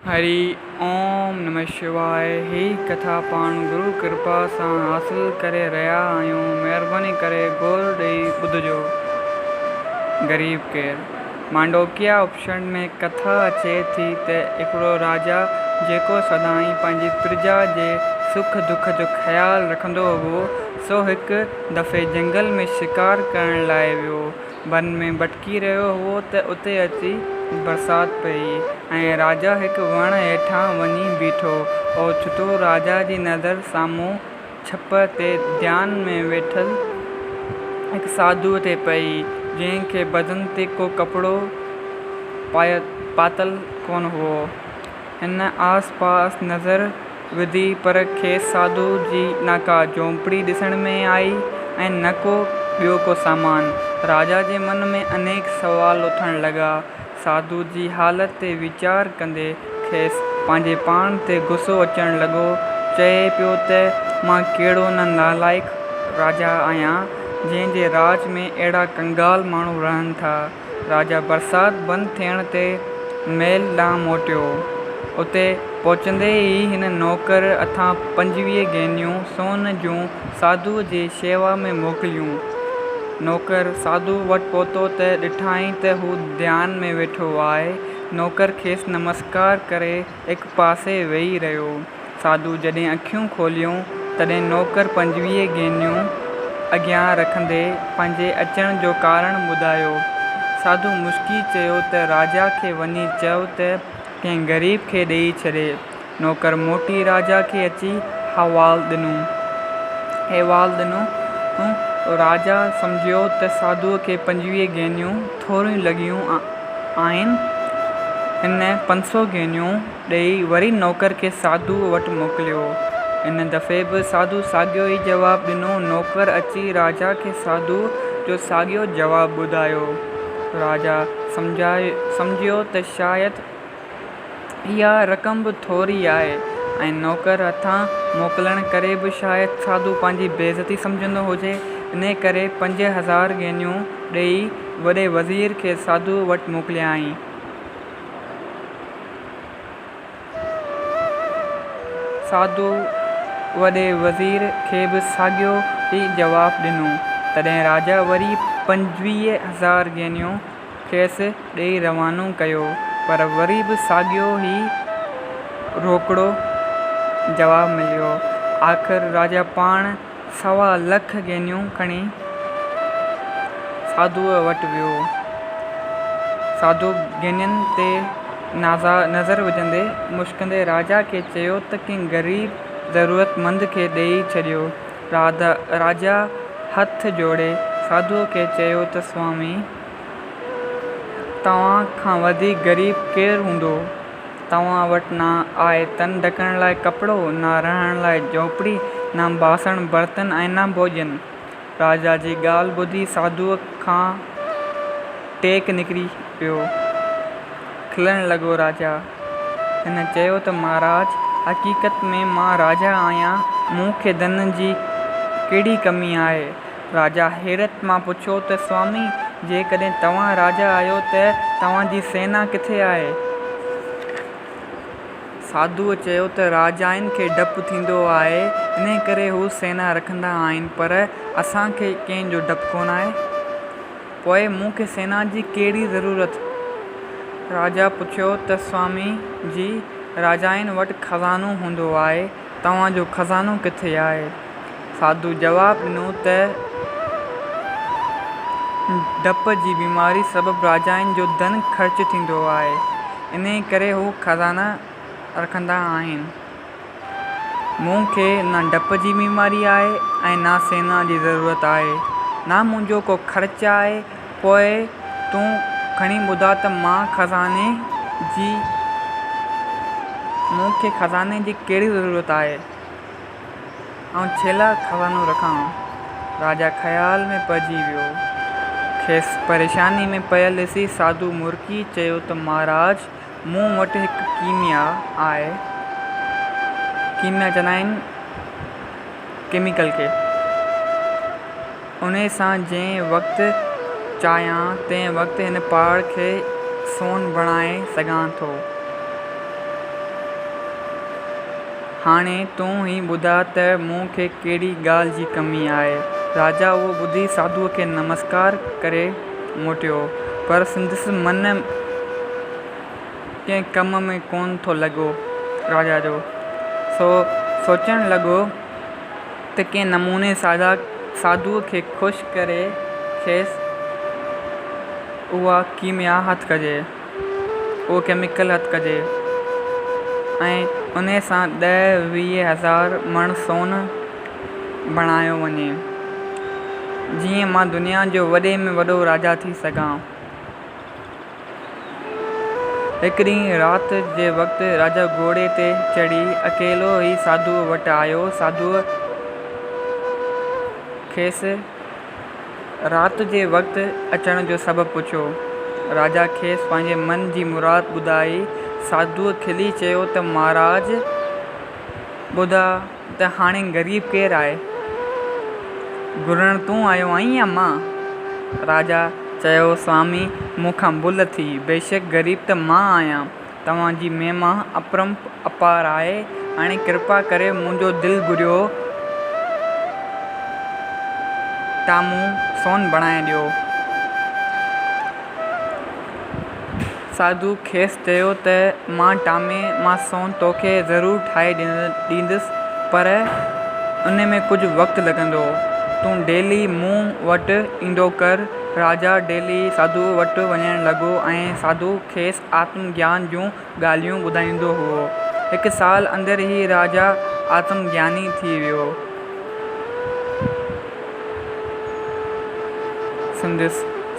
هري اوم نمه شواء هي ڪٿا پاڻ گرو ڪرپا سان حاصل ڪري رهيا آهيون مهرباني ڪري غور ڏئي ٻڌجو غريب ڪير مانڊوڪيا اپشنڊ ۾ ڪٿا اچي ٿي ته هڪڙو راجا جيڪو سدائين پنهنجي پرجا جي سک دک جو خيال رکندو هو سو هڪ دفعي جنگل ۾ شڪار ڪرڻ لاء ويو بن ۾ ڀٽڪي رهيو هئو ته اتي اچي برسات پئي ۽ راجا هڪ وڻ هيٺان وڃي بيٺو. اوچتو راجا جي نظر سامهون ڇپ تي ڌيان ۾ ويٺل هڪ ساڌوء تي پئي، جنهن کي بدن تي ڪو ڪپڙو پاتل ڪونه هئو. هن آس پاس نظر وڌي پر کيس ساڌو جي نه ڪا جهونپڙي ڏسڻ ۾ آئي ۽ نه ڪو ٻيو ڪو سامان. راجا جي من ۾ انيڪ سوال اٿڻ لڳا. ساڌو جي حالت تي ويچار ڪندي کيس پنهنجي پاڻ تي غصو اچڻ لڳو. چئي پيو ته مان ڪهڙو نه نالائق راجا آهيان جنهن جي راڄ ۾ اهڙا ڪنگال ماڻهو رهن ٿا. راجا برسات بند ٿيڻ تي محل ڏانهن موٽيو. اتي پهچندي ئي هن نوڪر هٿان پنجويهه گينيون سون جون ساڌوء جي شيوا ۾ موڪليون. نوڪر ساڌوء وٽ پهتو ته ڏٺائين ته هو ڌيان ۾ ويٺو آهي. نوڪر کيس نمسڪار ڪري هڪ پاسي ويهي رهيو. ساڌو جڏهن اکيون کوليون، تڏهن نوڪر پنجويهه گينيون اڳيان رکندي پنهنجي اچڻ جو ڪارڻ ٻڌايو. ساڌو مسڪي چيو ته راجا کي وڃي چئو ته ڪنهن غريب کي ڏيئي ڇڏي. نوڪر موٽي راجا کي اچي حوال ڏنو. احوال ڏنو. راجا سمجهيو ته ساڌوء کي پنجويهه گينيون. ٿوريون لڳيون آهن. هن پنج سؤ گينيون ڏيئي وري نوڪر کي ساڌوء وٽ موڪليو. ان دفعي به ساڌوء ساڳيو ئي جواب ڏنو. نوڪر اچي راجا کي ساڌوء جو ساڳيو جواب ٻڌايو. راجا سمجهيو ته شايد اها رقم به ٿوري آهي ۽ نوڪر هٿان موڪلڻ ڪري به شايد ساڌو پنهنجي بي عزتي سمجهندو هجي، انهيء ڪري پنج هزار گينيون ڏيئي وڏي وزير کي ساڌوء وٽ موڪليائين. ساڌوء وڏي وزير کي به ساڳيو ئي جواب ڏنو. تڏهن راجا وري پنجويهه هزار گينيون کيس ڏيئي روانو ڪيو پر وري به ساڳيو ئي روڪڙو جواب مليو. آخر راجا پاڻ سوا لک گينيون کڻي ساڌوء وٽ ويو. ساڌو گينين تي نظر وجهندي مشڪندي راجا کي چيو ته ڪنهن غريب ضرورتمند کي ڏيئي ڇڏيو. راجا هٿ جوڙي ساڌوء کي چيو ته سوامي! توهان کان وڌيڪ غريب ڪير هوندو؟ توهان وٽ نه آء تن ڍڪڻ لاء ڪپڙو، نه رهڻ لاء جهوپڙي، نه باسڻ برتن ۽ نه ڀوڄن. راجا جي ڳالهه ٻڌي ساڌوء کان ٽيڪ نڪري ويو. کلڻ لڳو راجا هن چيو ته مهاراج حقيقت ۾ مان راجا آهيان مون کي ڌن جي ڪهڙي ڪمي آهي. راجا حيرت مان پڇيو ته سوامي جيڪڏهن توهان راجا آهيو ته توهان جي سينا ڪٿي آهي؟ ساڌوء چيو ته راجائن کي ڊپ ٿيندو آهي انڪري هو سينا رکندا آهن پر اسان کي ڪنهن جو ڊپ ڪونه آهي. پوء مون کي سينا جي ڪهڙي ضرورت؟ راجا پڇيو ته سوامي جي، راجائن وٽ خزانو هوندو آهي، توهان جو خزانو ڪٿي آهي؟ ساڌوء جواب ڏنو ته ڊپ جي بيماري سبب راجائن جو ڌن خرچ ٿيندو آهي، انهيء ڪري هو خزانا رکندا آهن. مون کي نه ڊپ جي بيماري آهي ۽ نه سينا جي ضرورت آهي. نه منهنجو ڪو خرچ آهي. پوء تون کڻي ٻڌاء ته مان خزاني جي مون کي خزاني جي ڪهڙي ضرورت آهي؟ آئون ڇيلاء خزانو رکان؟ راجا خيال ۾ پئجي ويو. کيس پريشاني ۾ پيل ڏسي ساڌو مرڪي چيو ته مهاراج! مون وٽ هڪ ڪيميا آهي. ڪيميا چوندا آهن ڪيميڪل کي. انهيء سان جنهن وقت چاهيان تنهن وقت هن پهاڙ کي سون بڻائي سگهان ٿو. هاڻي تون ئي ٻڌاء ته مون کي ڪهڙي ڳالهه جي ڪمي آهي؟ راجا اهو ٻڌي ساڌوء کي نمسڪار ڪري موٽيو، پر سندس من ڪنهن ڪم ۾ ڪونه ٿو لڳو. راجا جو سو سوچڻ لڳو ته ڪنهن نموني سادا ساڌوء کي خوش ڪري کيس اها ڪيميا هٿ ڪجي. اهو ڪيميڪل هٿ ڪجي ۽ ان سان ڏهه ويهه هزار مڻ سون بڻايو وڃي جيئن مان دنيا جو وڏي ۾ وڏو راجا ٿي سگهان. هڪ ڏينهن رات جي وقت راجا گهوڙي تي چڙهي اڪيلو ئي ساڌوء وٽ آيو. ساڌوء کيس. رات جي وقت اچڻ جو سبب پڇيو. راجا کيس پنهنجي من جي مراد ٻڌائي. ساڌوء کلي چيو ته مهاراج ٻڌاء ته هاڻي غريب ڪير آهي؟ گهرڻ تون آيو آهين يا مان؟ راجا چيو سوامي مون کان ڀل ٿي، بيشڪ غريب ته مان آهيان. توهان جي مهما اپرنپ اپار آهي، هاڻي ڪرپا ڪري منهنجو دل گهريو ٽامون سون بڻائي ڏيو. ساڌوء کيس چيو ته مان ٽامي مان سون توکي ضرور ٺاهي ڏيندس پر ان ۾ ڪجهه وقت لڳندو. تون ڊيلي مون وٽ ايندو ڪر. راجا ڊيلي ساڌوء وٽ وڃڻ لڳو ۽ ساڌوء کيس آتم گيان جون ڳالهيون ٻڌائيندو هئو. هڪ سال اندر هي راجا آتم گياني ٿي ويو. سندس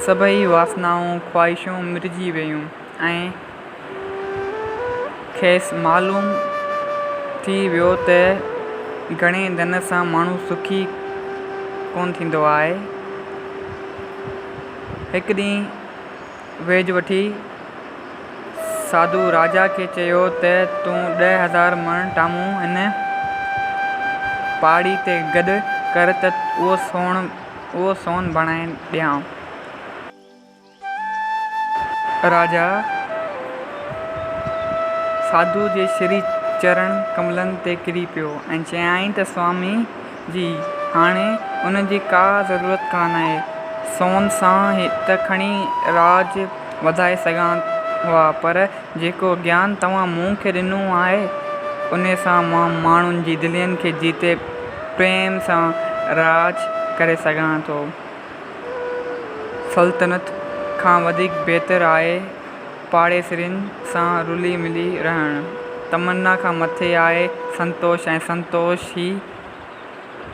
سڀئي واسنائون، خواهشون مرجي ويون ۽ کيس معلوم ٿي ويو ته گهڻي ڌن سان ماڻهو سکي ڪونه ٿيندو آهي. هڪ ڏينهن ويج وٺي ساڌو راجا کي چيو ته تون ڏهه هزار مڻ ٽامون هن پاڙي تي گڏ ڪر ته اهو سون بڻائي ڏيانء. راجا ساڌوء جي شري چرڻ ڪملن تي ڪري پيو ۽ چيائين ته سوامي جي هاڻي ان جي ڪا ضرورت ڪانه آهي. سون سان ته کڻي راڄ وڌائي سگهان ها پر جيڪو گيان توهان مون کي ڏنو آهي ان سان مان ماڻهن جي دلين کي جيتي پريم سان راڄ ڪري سگهان ٿو. سلطنت کان وڌيڪ بهتر آهي. پاڙيسرين سان رلي ملي رهڻ تمنا کان مٿي آهي سنتوش ۽ سنتوش ئي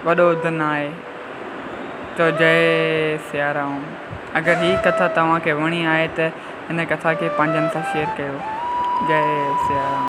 وڏو ڌن آهي چئو جئي سيارام اگر هي ڪٿا توهان کي وڻي آهي ته هن ڪٿا کي پنهنجن سان شيئر ڪيو جئي سيارام.